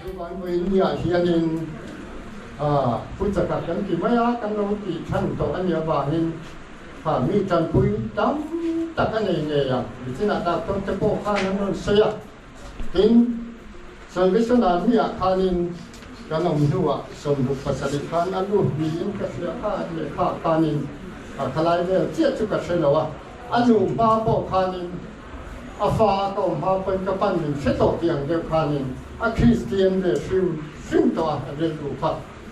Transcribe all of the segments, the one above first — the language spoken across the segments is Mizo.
Chuan India hianin Futsakak kan ti mai a, kan lo tih chhan tawh a nih avangin mi tanpui tam tak a nei ngei ang. Michinah doctor te pawh khan an rawn sawi a. Tin, Salvation Army-ah khanin kan awm hnuah sawmduk pasarih khan a lut niin ka hria kha lehkha khanin khalai vel chiah chu ka hre lo a. A nuhma pawh khanin. A fa a kawm hma pawn ka pan min hre tawh tih ang deuh khanin a Kristian ve hrim hrim tawh a a rilru kha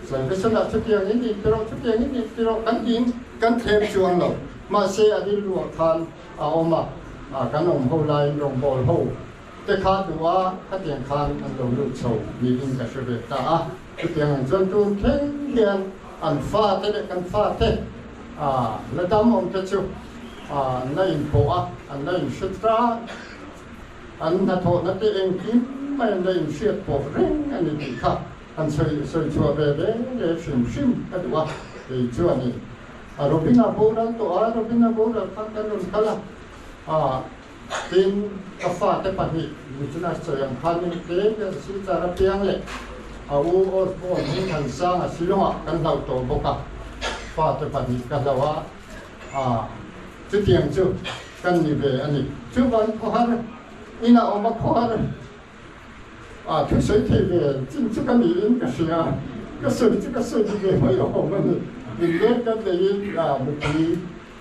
sawi nasa lah chutiang in in tiraw chutiang in in tiraw kan ti in kan thlem chu ang lo mahse a rilru ah khan a awm a a kan awm ho lai in rawngbawl ho te kha duh a khatiang khan an lo lut chho niin ka hre ve ta a. Chutiang chuan tum thleng hian an fate leh kan fate la dam awm te chu an la inpawh a, an la inhre tlat. An hnathawhna te engkim mai an la inhriat pawh reng a ni tih kha an sawi chhuah ve ve leh hrim hrim ka duh a, kei chu a ni. Robina boral tawha Robina boral kha kan rawn kal a. Tin, ka fate pahnih Business chawi ang khan hemi tlem hi a Zisitlar apiang leh a u Osborne hi Thansanga silawngah kan hlauh tawh bawk a, fate pahnih ka hlauh a, ah, chutiang chu kan ni ve a ni. Chu van khuahar inah awm a khuahar ah thusawi thei ve chin chu ka niin ka hria a, ka sawi chu ka sawi ti ve mai awm a ni. Inner ka neiin, ah, mithi.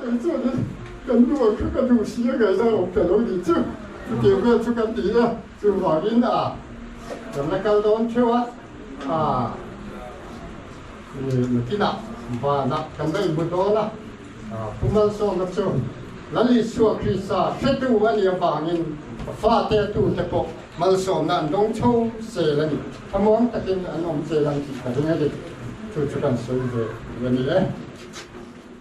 Kei chu hi kan nuaih kha ka duh si a ngai zan awm ta lo ni chu. Chutih vel chu ka ti a, chuvangin a kan la kal dawn theuh a, aa nutinah vana kan la inbu dawn a, Pu Malsawma chu Lali Suah Krista hretu a nih avangin a fate a tute pawh malsawmna an dawng tho sel a ni, thamawng takin an awm chelh ang tih ka ring a ni, chu chu kan sawi ve ve a ni e.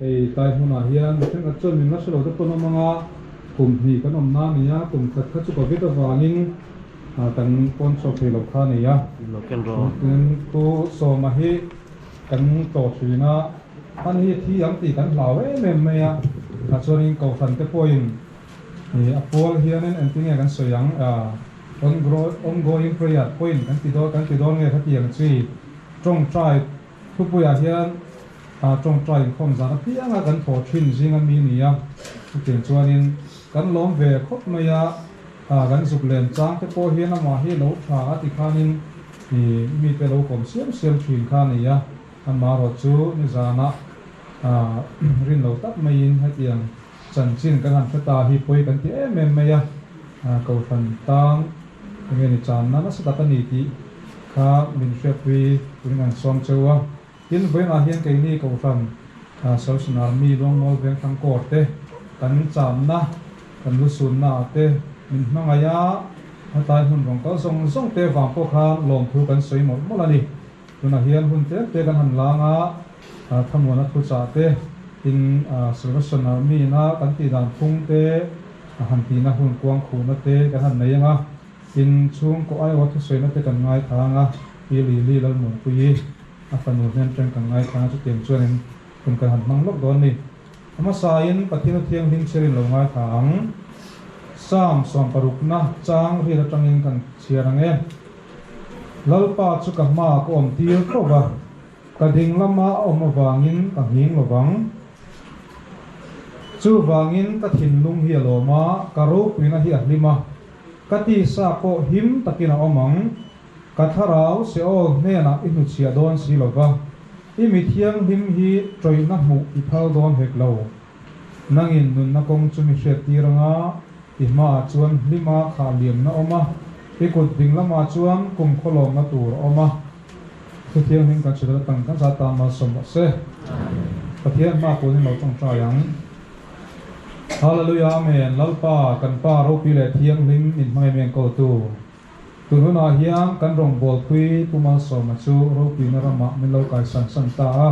Hei tlai hmunah hian mi thengkhat chuan min hmasa lo te pawn awm ang a, kum hnih kan awmna a ni a, kum khat kha chu ka vit avangin kan pawn chhuak thei lo kha a ni a, tin chu sawma hi kan tlawh thin a, han hi thi ang tih kan hlau em em mai a, tah chuan in kohhran te pawhin. Ih a pawl hianin engti nge kan sawi ang? Aah, ongroi, ongoing prayer point kan ti dawn, kan ti dawn nge khati ang chi? Tawngtai thupuiah hian aah tawngtai inkhawm zan apianga kan thaw thin zing a mi ni a, chutin chuanin kan lawm ve khawp mai a, aah kan zuk lem chang te pawh hian amah hi lo tha a ti khanin ih mite lo kawm siam siam thin kha a ni a, amaherawhchu nizanah aah rinlo tak maiin hetiang. Chanchin kan han hre ta hi pawi kan ti em em mai a, Kohhran tang enge ni channa nasa tak a ni tih kha min hriatpui turin kan sawm cheu a, tin vawiinah hian keini Kohhran Salhsan Army Luangmual Vengthlang Corps te kan channa, kan lu sunna ah te min hmangaih a, hetlai hmun rawn kal zawng zawng te vang pawh khan lawmthu kan sawi mawlh mawlh a ni, tunah hian hun tel te kan han lang a, Thanuana thuchah te, tin Salvation Army-na kan tih dan phung te, han tihna hun kuang khuhna te kan han nei ang a, tin chhungkaw Iowa thusawiina te kan ngaithla ang a, i Lily Lalmunkui-i a fanu hnem ṭan kan ngaithla ang a, chutiang chuanin hun kan han hmang lawk dawn a ni. Hmasain Pathiana Thianghlim Chhiarin lo ngaithla ang, Psalm sawm parukna chang ril aṭangin kan chhiar ang e. Lalpa chu ka hmaa ka awm tir tawp a, Ka ding lama awm avangin ka nghing lo vang. Chuvangin ka thinlung hi a lawm a, ka ropuina hi a hlim a, ka tisa pawh him takin a awm ang. Ka thlarau Seol hnenah i hnuchhiah dawn si lo va, i mithianghlim hi tawihna hmuh i phal dawn hek lo. Nangin nunna kawng chu mi hriat tir anga i hmaah chuan hlima khah liamna awm a, i kut ding lamah chuan kum khawlawmna tur a awm a. Thu Thianghlim kan chhilh atang kan zat tan malsawm mah se. Pathian hma kualin lo tawngtai ang. Hallelujah amen Lalpa kan Pa ropi leh thianghlim in hmangaih meng ko tu. Tunhunah hian kan rawngbawlpui Pu Malsawma chu ropina ramah min lo kaisan san ta a.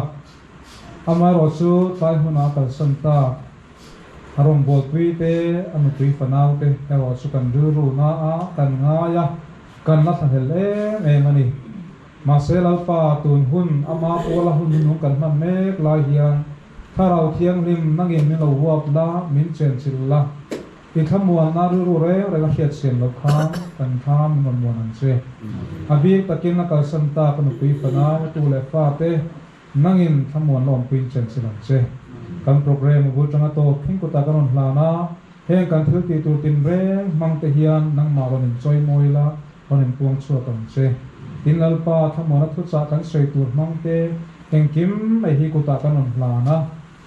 Amaherawh chu tlai hmunah kalsan ta a rawngbawlpui te, a nupui fanau te erawh chu kan rilru na a kan ngai a, kan la thlahel em em a ni. Mahse Lalpa tun hun ama Paula hun hnung kan hman mek lai hian Thlarau Thianghlim nangin min lo huap la, min chenchilh la. I thlamualna rilru reng reng a hriatchiam loh khan kan thla mi hmanmuan ang che. A bik takin a kalsan ta ka nupui fanau, tu leh fa te nangin thlamuan lawm puiin chan chin ang che. Kan program a bul tanga tawp thin kutah ka rawn hlan a, heng kan thil ti tur tin reng hmang te hian nangmah rawn in chawi mawi ila rawn in puang chhuak ang che. Tin Lalpa thlamuana thuchah kan sawi tur hmang te engkim mai hi kutah kan rawn hlan a.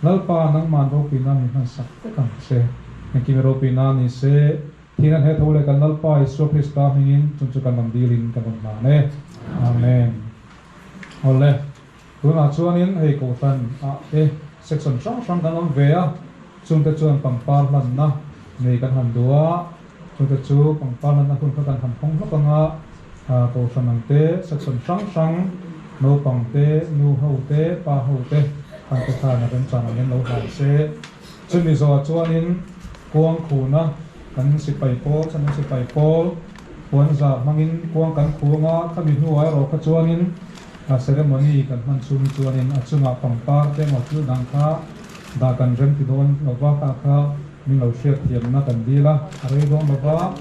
Lalpa, nangman ropina min hmansak vek ang se. Engkim i ropina ni se. Thîn an heh tho le kan Lalpa Isua Krista hmingin chung chu kan rawn dîl in kan rawn hlan e. Amen. Aw le. Tunah chuanin hei Kohhran ah te section hrang hrang kan awm ve a, chungte chuan pangpar hlanna nei kan han duh a, Chuta chu pangpar natna hun kha kan han hawng hlawk ang a, Kohhran ang te, section hrang hrang, naupang te, nu ho te, pa ho te, khan te khan a remchang ang in lo hlai se. Chu Mizoah chuanin kuang khuna kan sipai pawl, Chhana sipai pawl, puanzar hmangin kuang kan khu ang a, khami hnuai erawh kha chuanin ceremony kan hman chhungin chuanin a chungah pangpar te emaw thil dang kha dah kan rem ti dawn lova kha kha. Min lo hriat thiamna kan dil a, a rei dawn lo va,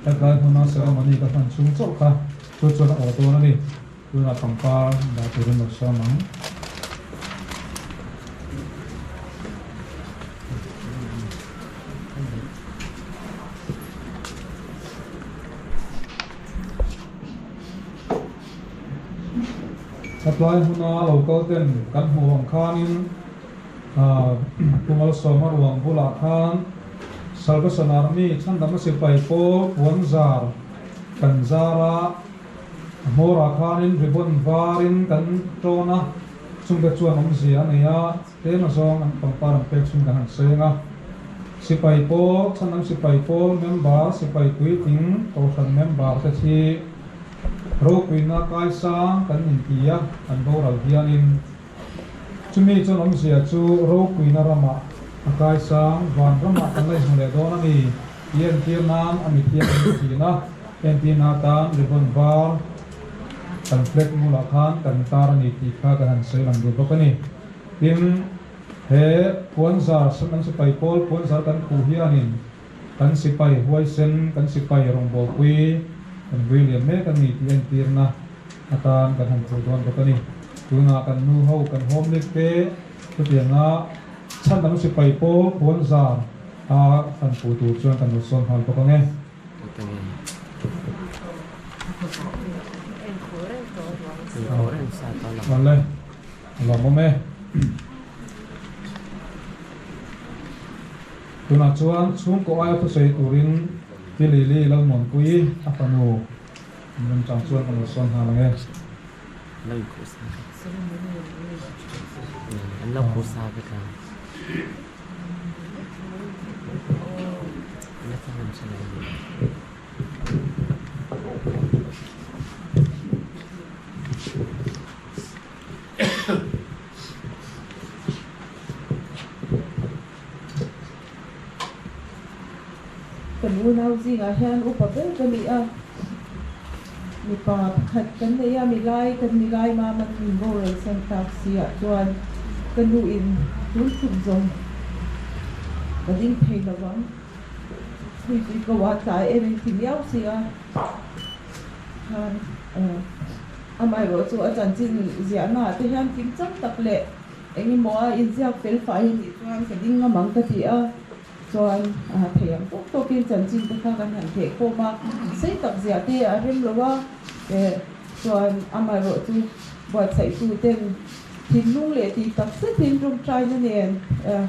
hetlai hmuna ceremony ka hman chhung chauh kha chu chuan a aw dawn a ni, tunah pangpar dah tur in lo siam ang. Hetlai hmuna local ten kan hmuh ang khanin Kumalsawma ruang bulah khan Salvation Army chhandama sipai pawl puan zar kan zar a, a hmawrah khanin ribbon varin kan tawn a, chungbet chu an awmzia a nei a, tlema zawng an pangpar an pek chhung khan an seng a. Sipai pawl, chhandam sipai pawl member, sipai puitling Kohhran member te khi Ropuina kaisang kan inti a, kan boral hianin. Chumi chuan awmzia chu ropuina ramah a kaisang van ramah kan la inhmu leh dawn a ni. I entir nan a mithiam a ni thin a, entir na tan ribbon var kan flag mu lah khan kan intar a ni tih kha kan han sawi lang duh bawk a ni. Tin, he puanzar an sipai pawl puanzar kan puh hianin Kan sipai huaisen, kan sipai rawngbawlpui kan vei liam mek a ni tih a entirna atan kan han hmuh dawn bawk a ni. Tunah kan nu ho, kan hawmlik te chutianga chhan dang sipai pawh puanzar a han puh tur chuan kan lo sawn nghal bawk ang e. Awle, a lo awm e. Tunah chuan chhungkaw aia thusawi turin Pi Lili Lalmawnpui a fanu an rem chang chuan ka nawrsawn hna lo nge. Ka nu nau zingah hian upa ber ka ni a, mipa pakhat kan nei a, milai kan milai mama tun boral sen tak siah chuan ka nu in tun phut zawng ka ding thei lo ang, hei chu i ka uar tlai em in ti miau si a, khan amaherawhchu a chanchin ziahna ah te hian fing chang tak leh. Eng emaw a inziak fel fai a nih chuan ka ding ngam ang ka ti a, chuan aa theih ang tawk tawk in chanchin te kha kan han theh khawm a, sei tak ziah te a rem lo a, eh chuan amaherawh chu buatsaih tu ten thinlung leh tih tak zet in rawng tain a nen eh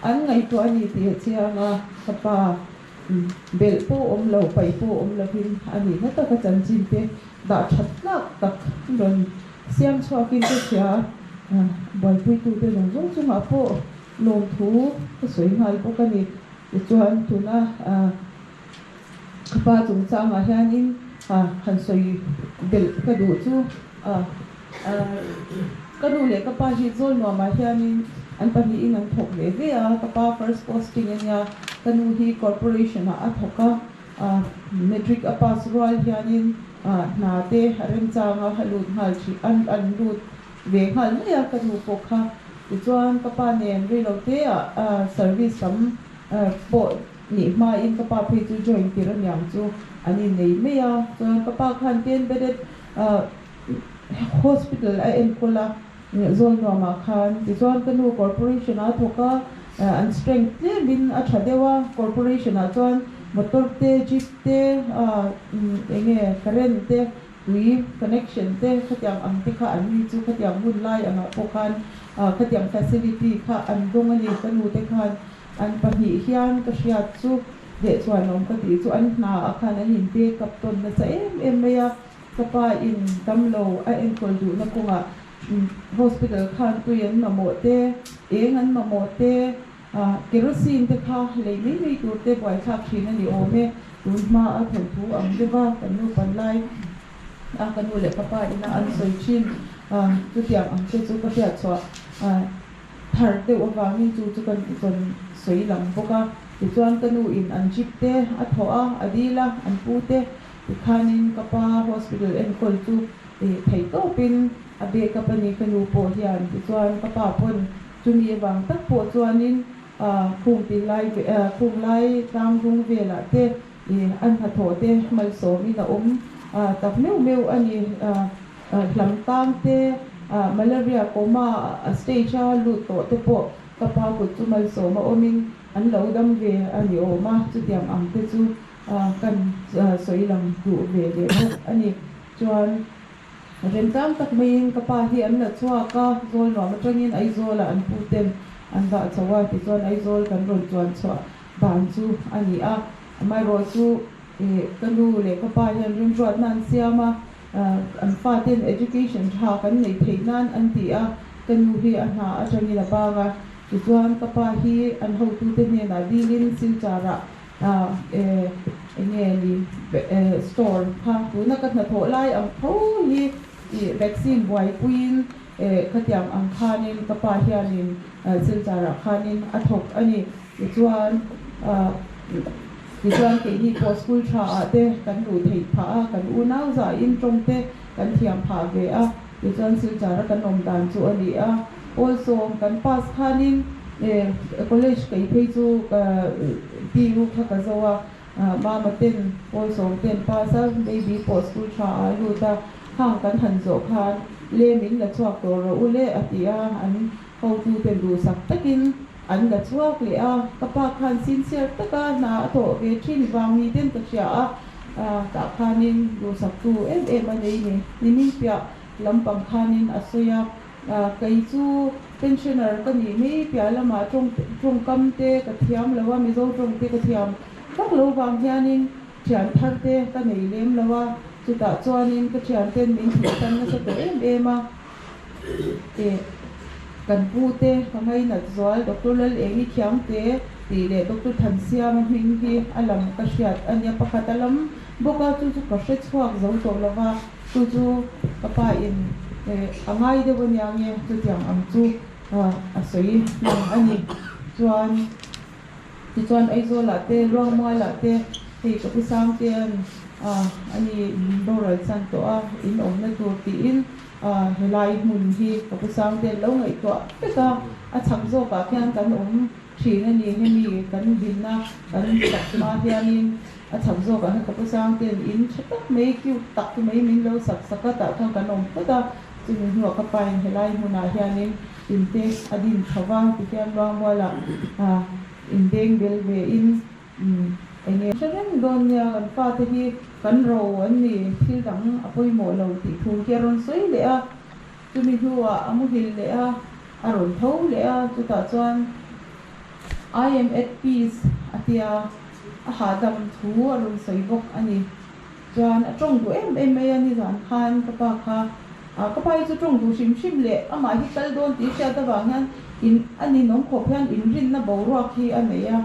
an ngaihtuah a ni tih a chhiang a ka pa. belh pawh awm lo, paih pawh awm lovin a nihna taka chanchin te dah that tlak tak i rawn siam chhuakin ka hria a, buaipui-tute zawng zawng chungah pawh lawmthu ka sawi nghal bawk a ni. Tichuan, tuna ka pa chungchangah hianin han sawi belh ka duh chu Ka nu leh ka pa hi zawl nuamah hianin an pahnihin an thawk ve ve a. Ka pa first posting a nia. Ka nu hi corporation-ah a thawk a. Matric a pass rual hianin hna te a remchang a, a lut nghal thin, a an lut ve nghal mai a ka nu pawh kha. Tichuan ka pa nen rei lo teah service tam pawh nih hmain ka pa phei chu join tir aniang chu an innei mai a. Chuan ka pa khan ti embedded. Hospital a enkawl a zawl nuam ah khan tichuan ka nu corporation a thawk a an strength tlem in a tha deuh a corporation ah chuan motor te jeep te eng nge current te tui connection te khatiang ang te kha an ni chu khatiang hun lai ang ah pawh khan khatiang facility kha an dawng a ni ka nu te khan an pahnih hian ka hriat chu leh chhuan awm ka tih chu an hna ah khan an in backup tawn nasa em em mai a. Ka pa in damlo a enkawl duhna kawngah hospital khan tui an mamawh te, eng an mamawh te, kerosene te kha lei mai mai tur te buaithlak thin a ni awm e. Tun hma a thawnh thu ang deuh a, kan nu pan lai a, ka nu leh ka pa ina an sawi thin a, chutiang ang te chu ka hriat chhuah thar deuh avangin chu chu kan tichawn sawi lang bawk a. Tichuan ka nu in an jip te a thawh a, a dil a, an pu te Tikhanin ka pa hospital enkawl chu eh thei tawpin a beh kap a ni ka nu pawh hian. Tichuan ka pa pawn chumi avang tak pawh chuanin ah khung pil lai ve ah khung lai tlangvung velah te eh a hnathawh te malsawmin a awm ah tak meuh meuh a ni ah hlam tang te ah malaria coma ah stage a lut tawh te pawh ka pa kut chu malsawma awmin an lo dam ve a ni awm a chutiang ang te chu A kan sawilam duh ve leh bawk a ni chuan rem tlang tak maiin ka pa hi an la chhuak a, zawl nuam atangin Aizawla an pu ten an dah chho a, tichuan Aizawl kan rawn chuan chhuah dan chu a ni a, amaherawh chu ka nu leh ka pa hian rimhruatna an siam a, an pa ten education tha kan nei theih nan an ti a, ka nu hi a hna atangin a bang a, tichuan ka pa hi an hotute hnenah dilin silchar ah Aah eeh enge ni eeh store kha tuna ka hnathawh lai ang tho hi i vaccine buaipuiin eeh ka tiang ang khanin ka pa hianin eeh silchara khanin a thawk a ni tichuan aah tichuan keini pawh school tha ah te kan luh theih phah a kan unau zah in tawngte kan thiam phah ve a. Tichuan silchara kan awm dan chu a ni a. Pawl sawm kan pass khanin college kaih phei chu ka pu kha ka zo a, mama ten pawl sawm ten pass a, baby pawh school tha ah a lut a, hang kan han zawh khan lem in la chhuak tawh rawh u le a ti a, an hotute duhsak takin. An la chhuak leh a, ka pa khan sincere taka hna a tawh ve thin, vang ni ten ka hria a, tah khanin duhsak tu em em a nei ni, ni hming piah lampang khanin a sawi a, kei chu pensioner ka nih mai piah lama tawngkam te ka thiam lo a, mizo tawng te ka thiam vak lo vang hianin thian thar te ka nei lem lo a, chutah chuanin ka thian ten min thih tan nasa tawh em em a. teh, kan pu te ka ngainat zual Doctor Lal Eng i thiang te tih leh Doctor Thansiam a hming hi a lang ka hriat a nia pakhat a lam bawk a chu chu ka hre chhuak zo tawh lo va chu chu ka pa in eh a ngai deuh a nia nge chutiang ang chu a sawi hmang a ni chuan Tichuan Aizawl ah te, Luangmual ah te, hei Kapisang te an a ni Doral chhan tawh a in awmna tur tiin he lai hmun hi Kapusang te an lo ngaihtuah vek a, a chhak zawk ah khian kan awm thin a ni hemi kan dinna kan sak hma hianin a chhak zawk ah hian Kapusang ten in tha tak mai cute tak mai min lo sak sak a tah khan kan awm phawt a chumi hnu ah ka pain he lai hmun ah hianin In te a din tho va, tikhian Luangmuala in beng bel ve in eng nge. Hre reng dawn nia kan pa te hi kan ro an ni thil dang a pawimawh lo tih thu hi a rawn sawi leh a, chumi hnuah a muhil leh a, a rawn tho leh a, chutah chuan I am at peace a tia a hahdam thu a rawn sawi bawk a ni. Chuan a ṭawng duh em em mai a, nizan khan ka pa kha a, ka pa hi chu ṭawng duh hrim hrim leh amah hi kal dawn tih hriat avang hian in a ninawm khawp hian inrinna boruak hi a nei a,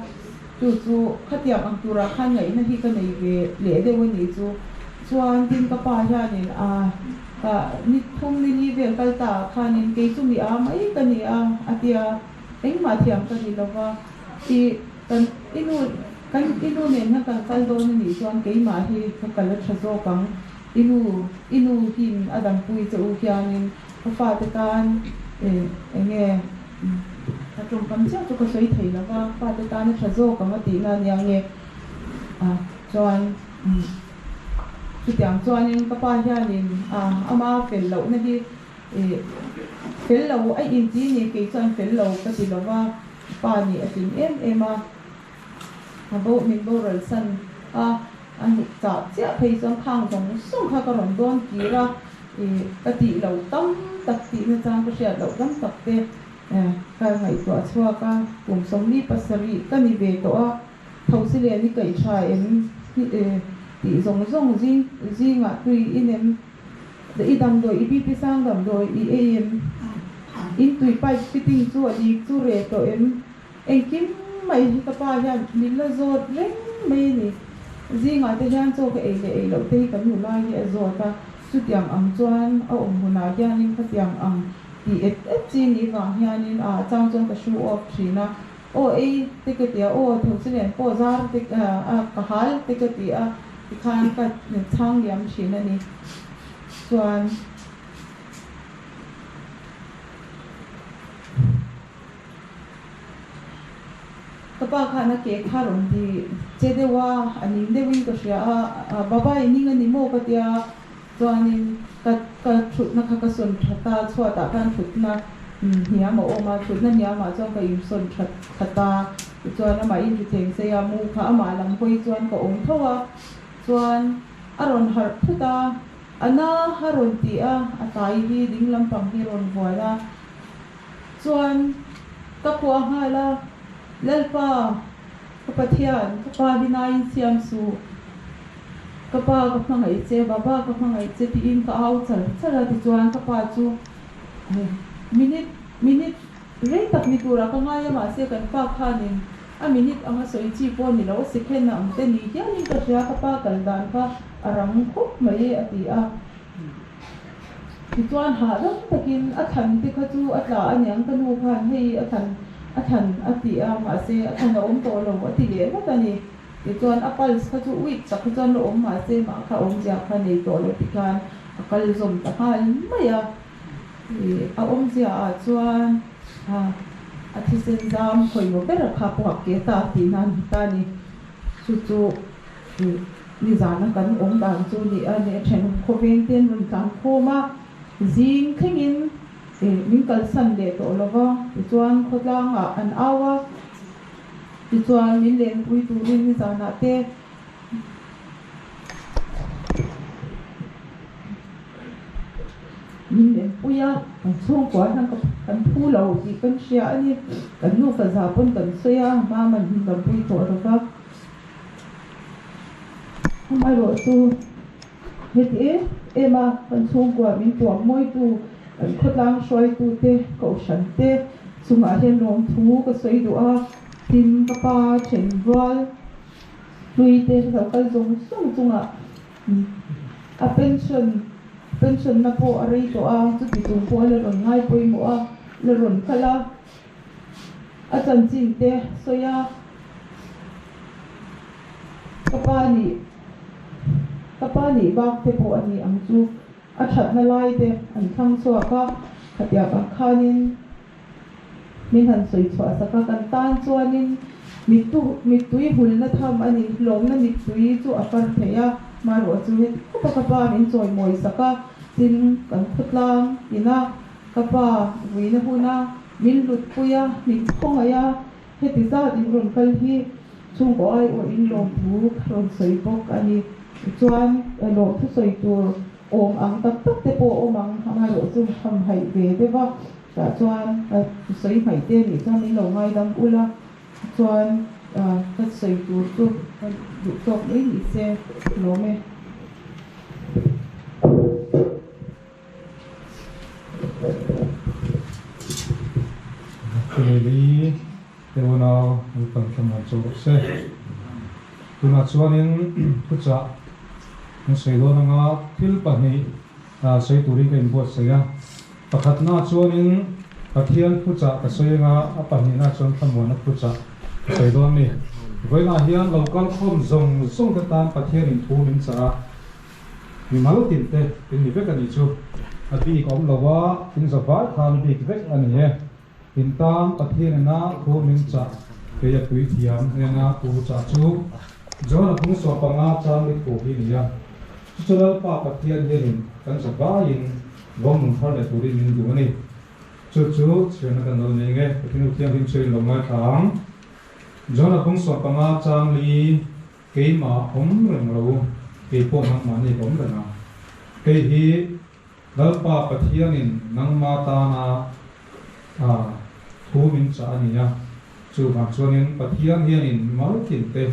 chu chu khatiang ang turah khan ngaihna hi ka nei ve leh deuh a nih chu. Chuan tin ka pa hianin a ka ni thum ni li vel kal ta ah khanin kei chu mi aa mai ka ni a, a ti a, engmah thiam ka ni lo va, i. Kan i nu, kan i nu nen han kal kal dawn anih chuan keimah hi ka kal a tha zawk ang, i nu, i nu hi min a dam pui che u hianin ka fate tan eh eng nge a tawngkam chiah chu ka sawi thei lova, fate tan a tha zawk ang a tihna ania ang nge ah chuan chutiang chuanin ka pa hianin ah ama fel lohna hi eh fel lo a inti a ni kei chuan fel lo ka ti lova. Pa nih a tling em em a, a bo min boral san a, a nih chah chiah phei chuan khang zawng zawng kha ka rawn dawn kir a, ih ka tih lo tam tak tih na chang ka hriat loh tam tak te ka ngaihtuah chhuak a, kum sawmli pasarih ka ni ve tawh a, tho sileh an i kaih tha em? Ih ih tih zawng zawng zing zingah tui i nem I damdawi i BP sang damdawi i ei em? In tui pipe fitting chu a dik chu reh tawh em? Engkim mai hi ka pa hian min la zawt reng mai a ni. Zingah te hian chaw ka ei leh ei loh te hi kan nu lai hi a zawt a, chutiang ang chuan a awm hunah hianin khatiang ang tih et et chi ni vang hianin a chang chuan ka show off thin a. Aw ei, te ka ti a, aw thu chu nen pawh zar te a ka hal te ka ti a, tikhan ka chhang liam thin a ni. Chuan ka pa khan a ke khar awm tih che deuh a, a ning deuhin ka hria a, Babai ning a ni maw ka ti a, Chuanin ka ka thutna kha ka sawn that a, chhuatah khan thutna hniam a awm a, thutna hniamah chuan ka insawn that that a, tichuan amah in thuthleng sei a mu kha amah lam hawi chuan ka awm tho a, chuan a rawn harh phut a, Ana a rawn ti a, a tlai hi ding lampang hi rawn hual a, chuan ka khua nghal a, Lalpa, ka Pathian, ka pa hi naiin siam suh. Ka pa ka hmangaih che, baba ka hmangaih che tiin ka au char char a tichuan ka pa chu minute minute rei tak ni tura ka ngai a mahse kan pa khanin a minute anga sawi chi pawh ni lo second a ang te ni hialin ka hria ka pa kal dan kha a rang khawp mai e a ti a tichuan hahdam takin a thlan te kha chu a tla aniang ka nu khan hei a thlan a thlan a ti a mahse a thlan a awm tawh lo a ti leh vat a ni. Tichuan a pulse kha chu weak tak hi chuan la awm mahse mah kha awm zia kha nei tawh loh hi khan a kal zawm ta nghal mai a. A awm zia ah chuan a thisen zam khawina ber a kha pawh a ke ta tih nan hmu ta ni. Chu chu nizan a kan awm dan chu ni a ni a then khawveng te an rawn tlan khawm a zing thleng in min kalsan leh tawh lo va tichuan khawtlang ah an au a. Tichuan, min leh mipui turin i zanah te min leh mipui a, kan chhungkua hian ka kan phu lo tih kan hria a ni. Kan nu ka zah pawn kan sawi a, mam an inlo pui tawh lo va. Amaherawhchu. Heti e, ema kan chhungkua min tuam mawitu, kan khawtlang hruaitu te ka ohran te chungah hian nuam thu ka sawi duh a, tin ka pa then rual hlui te lo kal zawng zawng chungah a pension pension na pawh a rei tawh a, chuti chung pawh a la rawn ngai pawimawh a, la rawn kal a. A chanchin te sawi a, Ka pa nih ka pa nih bak te pawh a ni ang chu a thatna lai te an thlang chhuak a, khatiak ang khanin min han sawi chhuah sak a, kan tan chuanin mittu mittui hulna tham a ni, hlawmna mittui chu a kar theih a, mahruh a chu heti khawpa ka pa min chawi mawi sak a, tin kan khawtlang ina Ka pa, vuina hun a min lutpui a, min khawngaih a, heti zat in rawn kal hi chhungkaw aiawh in lawmthu ka rawn sawi bawk a ni. Tichuan, lawmthu sawi tur awm ang tak tak te pawh awm ang, amaherawh chu hamhaih ve deuh a, tah chuan ka sawi hmaih te nih chuan min lo ngaidam ulh a, tichuan ka sawi tur chu ka duh tawk mai nise hlawm e. Chumi li teuna an pan thla nuam chu rawh se. Tunah chuanin khuchah an sawi dawn anga thil pahnih sawi turin ka inbuatsaih a. Pakhatnaah chuanin Pathian khuchah ka sawi anga a pahnihnaah chuan Thlamuana khuchah ka sawi dawn a ni. Vawiinah hian lo kalkhawm zawng zawngte tan Pathianin thu min chah a, Mi mal tin te in ni vek a nih chu. A bik awm lo a, in zaval khan bik vek a ni e. In tan Pathian ina thu min chah keia puithiam hena u chah chu John a hung suah panga chang mi thu hi nia. Chu chu Lalpa Pathian hianin kan zavaiin vawng nun thar leh turin min duh a ni. Chu chu chhiar na kan lo nei nge Pathian u thianghlim chhiar in lo ngaithla ang. John a hung suah panga chang mi Keimah awm reng lo, kei pawh nangmahni ka awm reng a. Kei hi Lalpa Pathianin nangma tana a thu min chah a ni a. Chu vang chuanin Pathian hianin mal kimte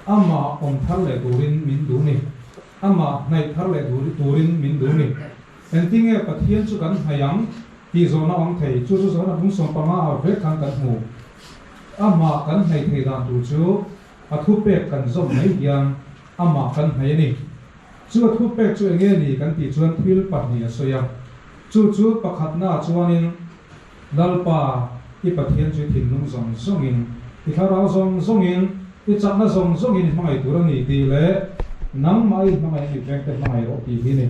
Amah awm thar leh turin min duh ni? Amah hnaih thar leh duh turin min duh ni? Engtin nge Pathian chu kan hnaih ang tih zawhna a awm thei. Chu chu zawn a bung sawmpanga ah vek khan kan hmu. Amah kan hnaih thei dan tur chu a thu pek kan zawm mai hian amah kan hnaih a ni. Chu a thu pek chu eng nge ni kan tih chuan thil pahnih a sawi a. Chu chu pakhatnaah chuanin Lalpa, i Pathian chu i thinlung zawng zawngin, i thlarau zawng zawngin, i chakna zawng zawngin i hmangaih tur a ni tih leh nangmah i hmangaih a ni vek te hmangaih rawh tih hi a ni.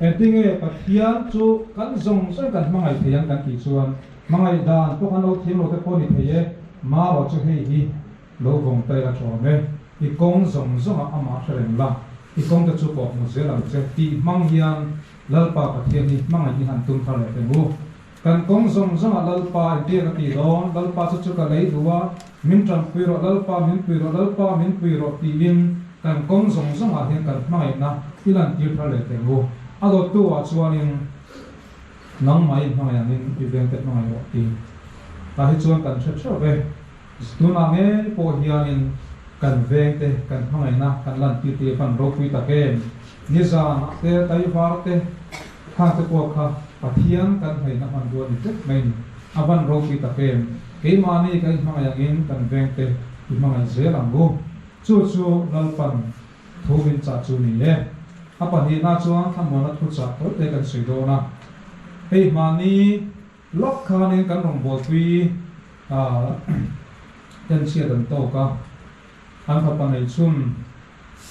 Engtin nge Pathian chu kan zawng zawngin kan hmangaih thei ang kan tih chuan hmangaih dan pawh kan lo thiang lo te pawh a ni thei e, marawh chu hei hi. Lo vawng tai la ṭawm e, i kawng zawng zawngah amah hre reng la, i kawng te chu pawh hmu zel ang che tih hmang hian Lalpa Pathian hi hmangaih i han tum thar leh peng u. Kan kawng zawng zawngah Lalpa i biak a ti dawn, Lalpa chu chu ka lei duh a, min ṭanpui rawh Lalpa, min pui rawh Lalpa, min pui rawh tiin kan kawng zawng zawngah hian kan hmangaihna i lantir thar leh peng u. A dawttuah chuanin, Nangmah i hmangaih angin i vengte hmangaih rawh ti ta hi chuan kan hre ṭheuh e. Tunah hmel pawh hianin kan vengte kan hmangaihna kan lantir tih a hman ropui tak em? Nizanah te Taivar te khangte pawh kha Pathian kan hnaihna hmanrua ni tep maiin a hman ropui tak em? Keimahni kan hmangaih angin kan vengte i hmangaih zel ang u. Chu chu Lalpan thu min chah chu ni e. A pahnihna chuan a muana thu chah tawite kan sawi dawn a. Keimahni. Love khan in kan rawn buatui a en chhiat an tawk a, an fapa nei chhun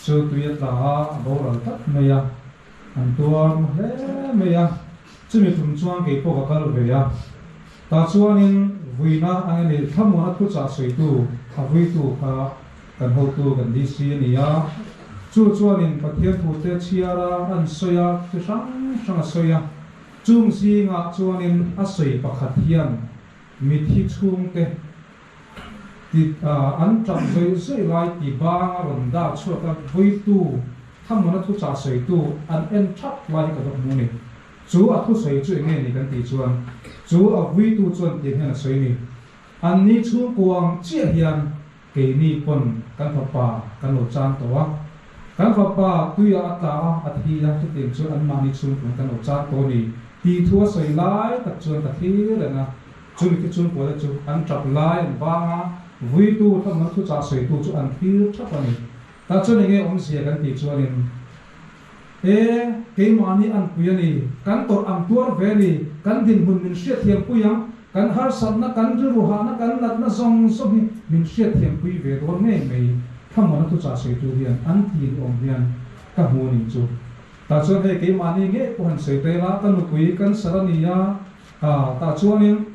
cheu tui a tla a, a boral tlat mai a, an tuar maw hle mai a, chumi tum chuan kei pawh ka kal ve a, tah chuan in vuina a nge ni thlamuan a thu chah sawitu a vuitu kha kan hotu kan DC a ni a, chu chuan in Pathian thu te chhiar a an sawi a, chi hrang hrang a sawi a. Chung zingah chuanin a sawi pakhat hian mithi chhungte ti an tap zawih zawih lai ti banga rawn dah chhuak a vawitu thamuna thuchah sawitu an en that lai hi ka duh hmu a ni. Chu a thusawi chu enge ni kan tih chuan chu a vuitu chuan tih hian a sawi a ni. Anni chhungkuang chiah hian Keini pawn kan fapa kan lo chan tawh a, kan fapa tuiah a tla a, a thi a, chutiang chuan anmahni chhungkung kan lo chan tawh a ni tih thu a sawi lai tak chuan ka thlir reng a. Chu mithi chhungkua-te chu an ṭap lai an vang a, vuitu hlawmna thuchah sawitu chu an thlir ṭhap a ni. Tah chuan enge awmzia kan tih chuanin. E, keimahni an pui a ni. Kan tawrh ang tuar ve a ni. Kan dinhmun min hriatthiam pui ang. Kan harsatna, kan rilru hahna, kan natna zawng zawng hi min hriatthiam pui ve dawn ngei mai. Thlamuana thuchah sawitu hian an ti ni awm hian ka hmu a nih chu. Tah chuan hei keimahni ngei pawh han sawi tel a, ka nupui kan sar a ni a. Aw, tah chuanin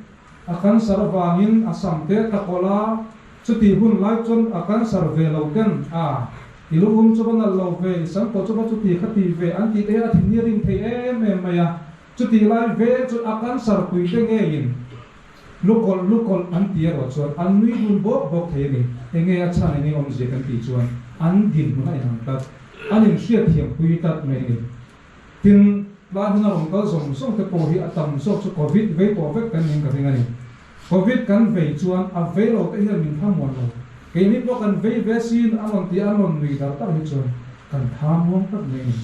A cancer avangin a sam te ta kawlh a, chutih hun lai chuan a cancer ve lo ten a, i luhum chu va nalh lo ve, i sam pawh chu va chuti kha ti ve an tih e, a thin hi a ring thei em em mai a, chutih lai ve chu a cancer pui te ngeiin lu kawlh lu kawlh an ti erawh chuan an nui dun bawk bawk thei a ni, enge a chhan engin awmzia kan tih chuan an dinhmun a inang tlat, an inhriat thiam pui tlat mai a ni. Tin, tlai huna rawn kal zawng zawng te pawh hi a tam zawk chu Covid vei tawh vek kan nih ka ring a ni. Covid kan vei chuan a vei lo te hian min hamuan lo, keini pawh kan vei ve sin an rawn ti an rawn nui dar tak hi chuan kan thanuam tak mai a ni.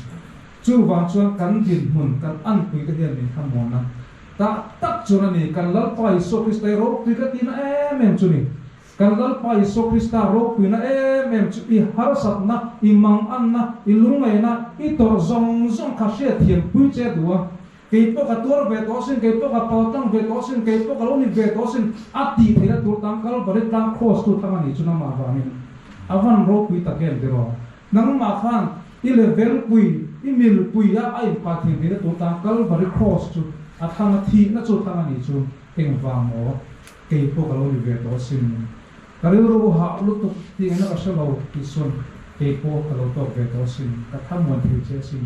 Chuvang chuan kan dinhmun kan anpui te hian min hamuan a tah tak chuan a ni. Kan Lalpa Isua Krista hi ropui ka tina em em chu ni. Kan Lalpa Isua Krista ropuina em em chu i harsatna, i manganna, i lungngaina, i tawrh zawng zawng kha hriat thiampui che duh a. Kei pawh ka tuar ve tawh asin, kei pawh ka pal tlang ve tawh asin, kei pawh ka lo ni ve tawh asin, a tih theihna tur tan Calvary tlang Kraws tu thlang a nih chu nangmah vangin a van ropui tak em tiraw? Nangmah khan i levelpui, i milpuia a inpah thiam theihna tur tan Calvary Kraws chu a thlang a, thihna chu thlang a nih chu engvang maw? Kei pawh ka lo ri ve tawh a sin. Ka rilru a hah lutuk ti ang na ka hre lo tih sawn kei pawh ka lo tawk ve tawh a sin. Ka thamuan thei che a sin.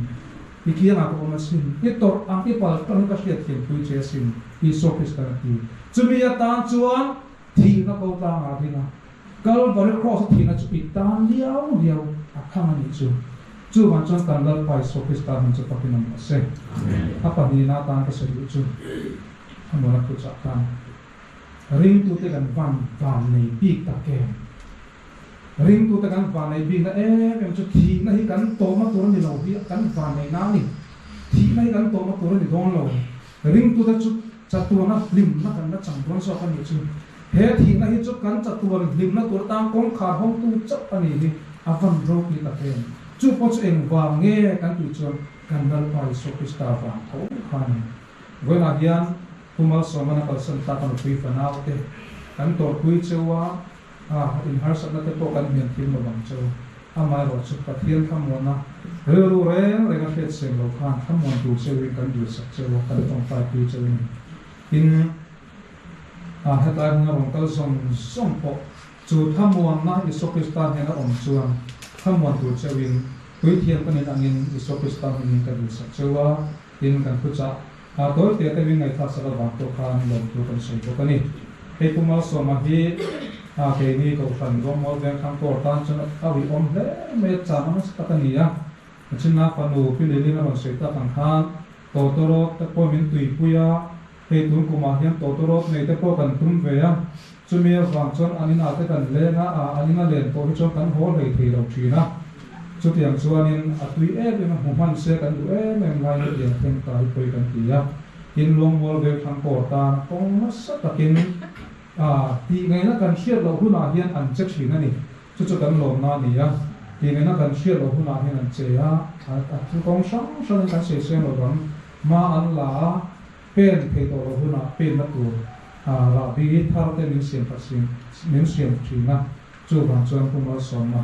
I kiangah ka awm a sin. I tawrh ang i pal tawng ka hriat thianpui che a sin. Isua Kristan a ti. Chumi atan chuan thihna ko tlang a ding a. Kalvari Kraws-a thihna chu i tan liau liau a khang a nih chu. Chu van chuan kan Lalpa Isua Krista hmun chu pakinawm a se. A pahnihna atan ka sawi duh chu. A nun a puch ah khan ringtu te kan van van nei bik tak em? Ringtu te kan van nei bik na em em chu thih na hi kan tawm a tur a ni lo hi kan van nei na a ni. Thih na hi kan tawm a tur a ni dawn lo. Ringtu te chu chatuan a hlim na kan la chang dawn zawk a nih chu. He thih na hi chu kan chatuan hlim na tur tan kawngkhar hawng tu chauh a nih hi a van ro pi tak em? Chu pawh chu engvang nge kan tih chuan kan Lalpa Isua Krista van tho khan Vawiinah hian Pu Malsawmana kalsan tlak a nupui fanau te kan tawrhpui cheu a, a in harsatna te pawh kan hniam thim lo bang cheu. Amah erawh chu Pathian thlamuanna rilru reng reng a hriat siam lo khan thlamuan tur cheuhin kan duhsak cheu a, kan tawngtaipui cheu a ni. Tin, a hetlai hmuna rawn kal zawng zawng pawh chu thlamuanna Isua Krista hnena awm chuan thlamuan tur cheuhin puithiam ka nih angin Isua Krista hmingin ka duhsak cheu a, Tin kan thu chah a tawi teh deuhin ngaihtlaksak avang pawh khan lawm thu kan sawi bawk a ni. Hei puma sawma hi a keini Kohhran Ruahmual Vengthlang Kawr tan chuan a uiawm hle mai a chang a nasa tak a ni a. A chhunna fanu Pi Leiling a rawn sawi tak ang khan Tawtawrawt te pawh min tuipui a, Hei tun kumah hian tawta rawt neite pawh kan tum ve a, chumi avang chuan an inah te kan leng a, aa, an ina len pawh hi chuan kan haw hlei thei lo thin a. Chutiang chuanin a tui em em a hmu hman se kan duh em em lai hi lian thleng ta hi pawi kan ti a. Tin, Luangmual vel thlang kawr tan kawng nasa takin, aa, tih ngaihna kan hriat loh hunah hian an che thin a ni. Chu chu kan lawmna a ni a, tih nena kan hriat loh hunah hian an chei a, a thil kawng hrang hrangin kan sawiseng lo vang. Hma an la a, pen phei tawh loh hunah penna tur rah bi i thar te min siam fat siam, min siam thin a, chuvang chuan pu Malsawma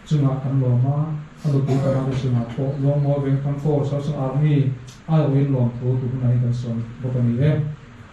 chungah kan lawm a, a lutuk tana te chungah pawh Lawngmawr Vengtham Course a, chu Army aiawhin lawm thu tu hunah hian kan sawn bawk a ni e.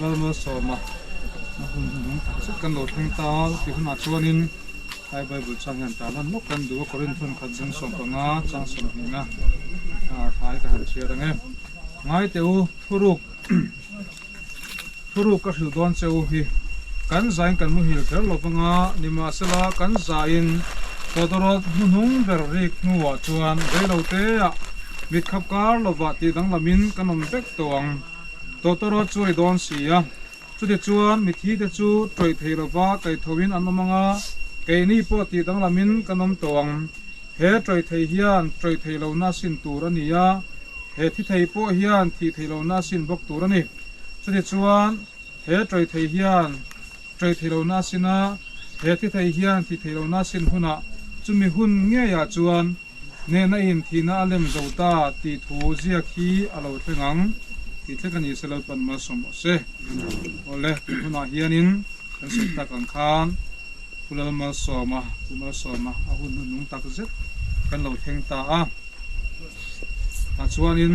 Lalmual sawma a hun hnung tak zet kan lo thleng ta a, ti hunah chuanin Hlai Bible chang hian ta lan lawk kan duh a, Korin thenkhat zing sawm panga chang sawmhnihna hlai ka han chhiat ang e. Ngaite u, thuruk thuruk ka hrilh dawn che u hi, kan zain kan muhil kher lo panga ni mah sela kan zain Todorot hnuhnung ber rik hnuah chuan veiloteah mitkhap kar lovah tih danglamin kan awm vek tawh ang. Tawtawrawt chu a ri dawn si a, chutih chuan mithi te chu tawih theih lova kai tho in an awm ang a, kei ni pawh tih danglam in kan awm tawh ang. He tawih theih hian tawih theih lo na a sin tur a ni a, he thi theih pawh hian thih theih lo na a sin bawk tur a ni. Chutih chuan he tawih theih hian tawih theih lo na a sin a, he thi theih hian thih theih lo na a sin hunah chumi hun ngeiah chuan, Nen a in thihna a lem zo ta tih thu ziak hi a lo thleng ang tih thlek a ni se lo tawh nima saw maw se. Aw le, tun hunah hianin kan sawi tak ang khan Pu Lalmalsawma, Pu Malsawma, a hun hnuthnung tak zet kan lo thleng ta a. Tah chuanin.